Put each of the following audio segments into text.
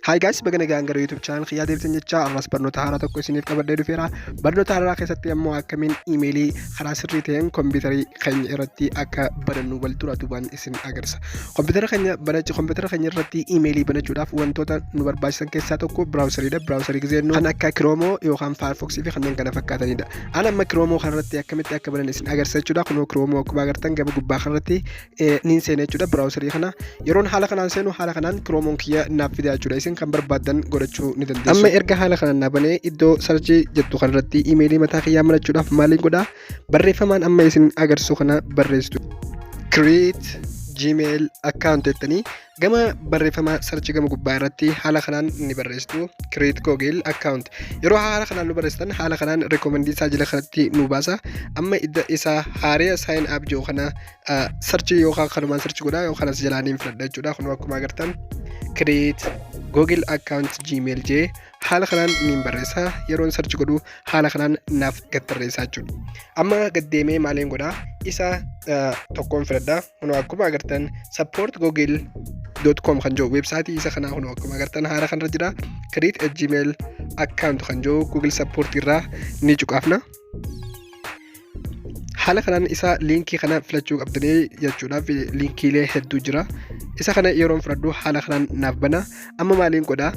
Hi guys, baga nagaan gara YouTube channel kiyyaa deebitan jechaa ammas barnoota haaraa tokko isiniif qabadhee dhufeera. Barnoota haaraa keessatti ammoo akkamiin iimeelii karaa sirrii ta'een kompiitarii keenya irratti akka banannu wal dura duubaan isin agarsiisa. Kompiitara keenya banachi kompiitara keenya irratti iimeelii banachuudhaaf wantoota nu barbaachisan keessaa tokko biraawusariidha. Biraawusarii gisee jennu kan akka Kiroomoo yookaan Firefox fi kanneen kana fakkaatanidha. An amma Kiroomoo kanarratti akkamitti akka banan isin agarsiisa jechuudha. Kunoo Kiroomoo akkuma agartan gama gubbaa kanarratti niin seena jechuudha biraawusarii kana yeroon haala kanaan seenu haala kanaan kiroomoon kiyya naaf fidaa jechuudha isin kan barbaadan godhachuu ni dandeessu. Amma erga haala kanaan naa banee iddoo sarjii jettu kanarratti imeelii mataa kiyyaa marachuudhaaf maaliin godhaa barreeffamaan amma isin agarsiisu kana barreessitu. Create Gmail account jettanii gama barreeffama sarchii gama gubbaa irratti haala kanaan ni barreessitu create google account yeroo haala kanaan nu barreessitan haala kanaan rekomendii isaa jala kanatti nu baasa amma idda isaa haariya sign up jiru kana sarchi yookaan kanumaan sarchi godhaa yookaan as jalaa niin fudhadha jechuudha kun akkuma agartan create google account gmail jee haala kanaan niin barreessa yeroon sarchi godhu haala kanaan naaf gad tarreessaa jechuudha amma gad deemee maaliin godhaa isa tokkoon fudhadha kun akkuma agartan support google dot com kan jiru weebsaayitii isa kanaa kun akkuma agartan haala kanarra jira create a gmail account kan jiru google support irraa ni cuqaafna. haala kanaan isa liinkii kana filachuu qabdanii jechuudhaaf liinkiilee hedduu jira isa kana yeroon fudhadhu haala kanaan naaf bana amma maaliin godha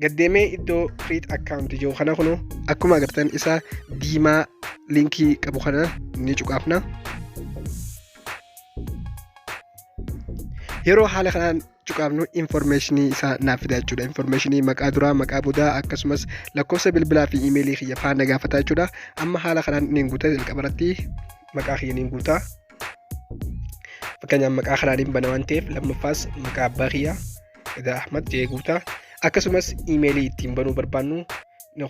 gaddeemee iddoo create account jiru kana kunu akkuma agartan isa diimaa liinkii qabu kana ni cuqaafna yeroo haala kanaan gochuu qabnu informeeshinii isaa naaf fidaa jechuudha. Informeeshinii maqaa duraa, maqaa boodaa akkasumas lakkoofsa bilbilaa fi imeelii kiyya faana gaafata jechuudha. Amma haala kanaan niin guuta jalqaba irratti maqaa kiyya niin guuta. Fakkeenyaaf maqaa kanaan hin bana waan ta'eef lammaffaas maqaa abbaa kiyya Edaa Ahmad jee guuta. Akkasumas imeelii ittiin banuu barbaannu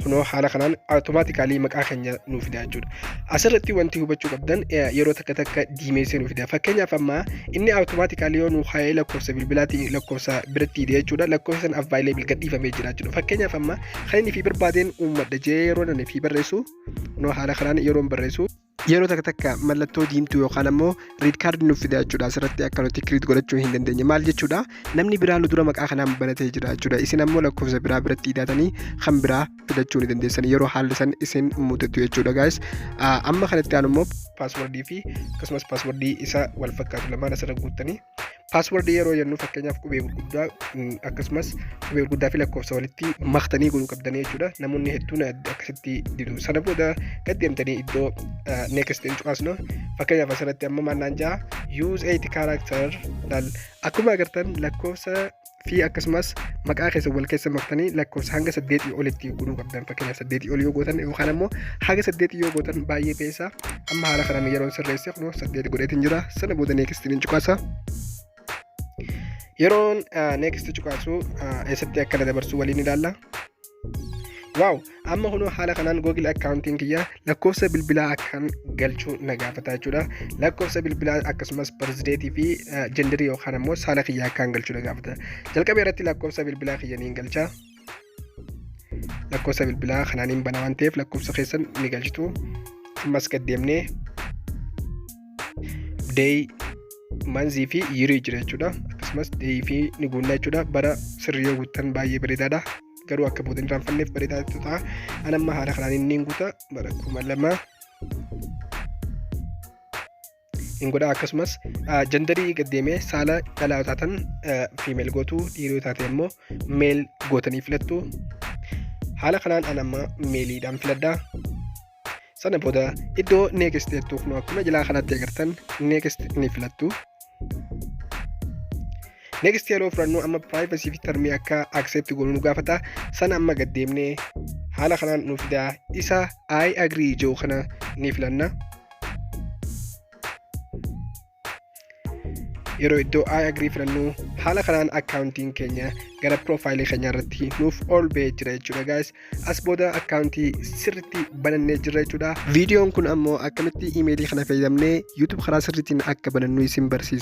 kunoo haala kanaan automaatikaalii maqaa keenya nuuf fida jechuudha. Asirratti wanti hubachuu qabdan yeroo takka takka diimeessee nuuf fida. Fakkeenyaaf amma inni automaatikaalii yoo nuuf haa'ee lakkoofsa bilbilaatiin lakkoofsa biratti hidhe jechuudha. Lakkoofsa sana avvaayilii bilga dhiifamee jira jechuudha. Fakkeenyaaf amma kan inni fi barbaadeen uummadha jee yeroo inni fi barreessu kunoo haala kanaan yeroon barreessu. yeroo takka takka mallattoo diimtuu yookaan ammoo riid kaardi nuuf fida jechuudha asirratti akka nuti kiriit godhachuu hin dandeenye maal jechuudha namni biraa nu dura maqaa kanaan banatee jira jechuudha isin ammoo lakkoofsa biraa biratti hidhaatanii kan biraa fidachuu ni dandeessan yeroo haalli san isin mudatu jechuudha gaayis amma kanatti aanu immoo paaswordii fi akkasumas paaswordii isa wal fakkaatu lamaan asirra guuttanii Paaswordii yeroo jennu fakkeenyaaf qubee gurguddaa mm, akkasumas qubee gurguddaa fi lakkoofsa walitti maktanii godhuu qabdanii jechuudha. Namoonni hedduun adda akkasitti didu. Sana booda gad deemtanii iddoo ah, next hin cuqaasnu. Fakkeenyaaf asirratti amma maannaan ja'a use 8 character laal. Akkuma agartan lakkoofsa fi akkasumas maqaa keessan wal keessa maktanii lakkoofsa hanga saddeetii olitti godhuu qabdan fakkeenyaaf saddeetii ol yoo gootan yookaan ammoo haga saddeetii yoo gootan baay'ee beessa amma haala kanaan yeroon sirreesse kunoo saddeet godheetiin jira sana booda neekistiin hin cuqaasa. Yeroon neekistii cuqaasu eessatti akka na dabarsu waliin ilaalla. waaw amma kunoo haala kanaan google akkaawuntiin kiyya lakkoofsa bilbilaa akkaan galchuu na gaafata jechuudha lakkoofsa bilbilaa akkasumas barzideetii fi jenderii yookaan ammoo saala kiyya akkaan galchuu na gaafata jalqaba irratti lakkoofsa bilbilaa kiyya niin galcha lakkoofsa bilbilaa kanaan hin bana waan ta'eef lakkoofsa keessan ni galchitu ammas gad deemnee day manzii fi yirii jira jechuudha akkasumas day fi ni guunna jechuudha bara sirrii yoo guuttan baay'ee bareedaadha garuu akka booda hin raanfanneef bareedaa ta'a an amma haala kanaan inni hin guuta bara kuma lama hin godha akkasumas jandarii gaddeemee saala dhalaa taatan fiimeel gootu dhiiroo taate immoo meel gootanii filattu haala kanaan an amma meeliidhaan filadha sana booda iddoo next jettu kun akkuma jalaa kanatti agartan next ni filattu next yeroo fudhannu amma privacy fi termii akka accept goonu nu gaafata sana amma gad deemnee haala kanaan nu fidaa isa i agree jiru kana ni filanna yeroo iddoo i agree filannu haala kanaan akkaawuntiin keenya gara piroofaayilii keenya irratti nuuf ol ba'ee jira jechuudha gaayis as booda akkaawuntii sirriitti banannee jirra jechuudha viidiyoon kun ammoo akkamitti imeelii kana fayyadamnee yuutuub karaa sirriitiin akka banannu isin barsiisa